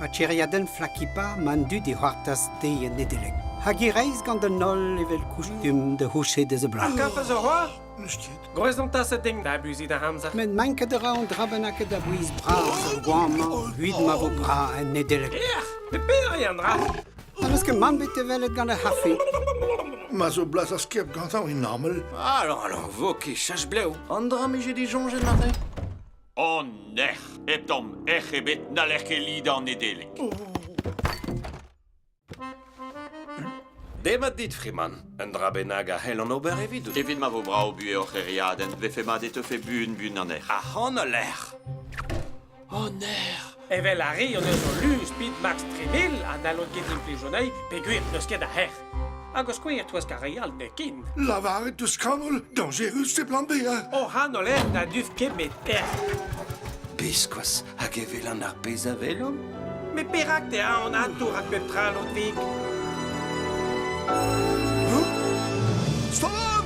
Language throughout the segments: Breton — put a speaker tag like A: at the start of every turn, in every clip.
A: Ha tiriadenn Flakipa ma an dud e c'hoartaz dezhi en Nedeleg. Hag e reizh gant an holl evel kustumm da c'houchet eus a bloaz. Kaffes a c'hoar? Gwrezontas a ding da abuziñ da amzer. Met manket a ra an dra bennaket a bouez bras ar goamañ evit ma vo bras en Nedeleg. Ec'h, pe pere an dra? N'eus ket mann bet e welet gant ar c'hafe. Ma zo blas ar skiab gantañ e normal. Alors, alors, vo ket chach blev. An dra 'mije disoñjet aze. An nec'h, hep tamm ec'h ebet, n'haller ket lidañ Nedeleg. Demat dit, Freeman. Un dra bennak a c'hellan ober evidout. Evit ma vo brav buhez hor c'hêriadenn, vefe mat e teufe buan-buan an erc'h. Ac'han al lec'h! O nec'h! Evel ar re hon eus o luz pit Max Treville ha n'hallont ket implijoniñ peogwir n'eus ket a hec'h. Hag o skouer twesk ar re all n'eo ken. Lavaret deus kanol dañjerus e plan B, hein? O hanol en na duf ket met ec'h. Biskoazh hag e welan ar pezh a welomp. Met perak tea an atour at pep tra lotik? Stolan!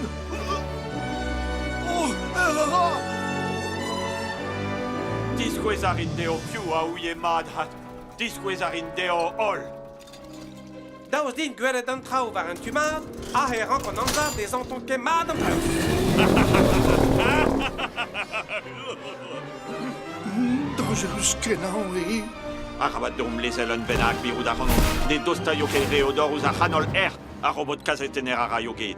A: Diskouez a rin dezho piv a ouie mat ha diskouez a rin dezho holl. Daoust din gwelet an traoù war an tu mat, aze e rank an amzer dezhañ ton ket mat an traoù. Danjerus-kenañ eo. Arabat deomp lezel un bennak, mirout a ran ne dostaio ket re o dor ouzh ar c'hanol-erc'h ar robot kazetenner a raio get.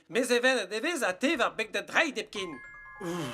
A: Mes evelet e vez ha te war beg da dreid hepken. Ouh.